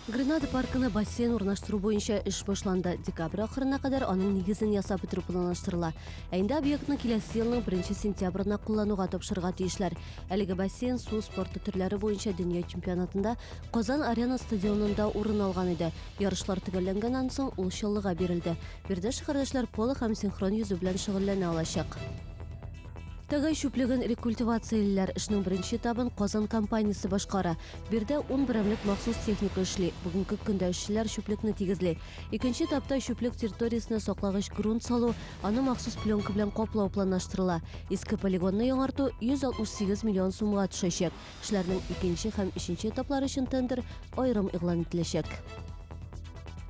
Гренада паркына бассейн урнаштыру буенча эш башланды. Декабрь ахырына кадәр аның нигезен ясап бетерү планлаштырыла. Ә инде объектны киләсе елның 1 сентябрына куллануга тапшырырга тиешләр. Әлеге бассейн су спорты төрләре буенча дөнья чемпионатында Казан Арена стадионында урын алган иде. Ярышлар төгәлләнгәннән соң ул чаллыга бирелде. Биредә шәһәрдәшләр поло һәм синхрон йөзү белән шөгыльләнә алачак. Тыгай чүплеген рекультивациялиләр. Эшнең беренче этабын Казан компаниясе башкара. Бирдә ун берәмлек махсус техника эшли. Бүгенге көндә эшчеләр чүплекне тигезли. Икенче этапта чүплек территориясенә саклагыч грунт салу, аны махсус пленка белән каплау планлаштырыла. Иске полигонны яңарту 168 миллион сумга төшәчәк. Эшләрнең икенче һәм өченче этаплары өчен тендер аерым игълан ителәчәк.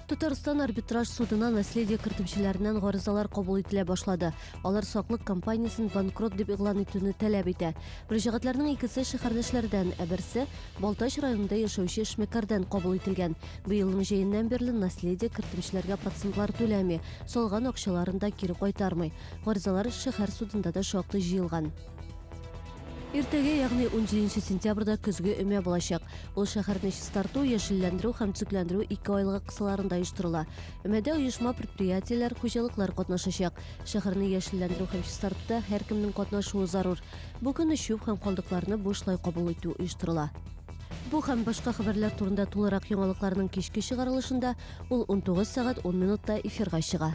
Татарстан арбитраж судына наследие кертүчеләреннән гаризалар кабул ителә башлады. Алар саклык компаниясен банкрот дип игълан итүне таләп итә. Мөрәҗәгатьләрнең икесе шәһәрдәшләрдән, ә берсе Балтач районында яшәүче эшмәкәрдән кабул ителгән. Быелның җәеннән бирле наследие кертүчеләргә процентлар түләми, салган акчаларын да кире кайтармый. Гаризалар шәһәр судында да шактый җыелган. Иртәгә, ягъни 17 сентябрьдә көзге өмә булачак. Ул шәһәрне чистарту, яшелләндерү һәм төзекләндерү ике айлыгы кысаларында оештырыла. Өмәдә оешма, предприятиеләр, хуҗалыклар катнашачак. Шәһәрне яшелләндерү һәм чистартуда һәркемнең катнашуы зарур. Бу көнне чүп һәм калдыкларны бушлай кабул итү оештырыла. Бу һәм башка хәбәрләр турында тулырак яңалыкларның кичке чыгарылышында, ул 19 сәгать 10 минутта эфирга чыга.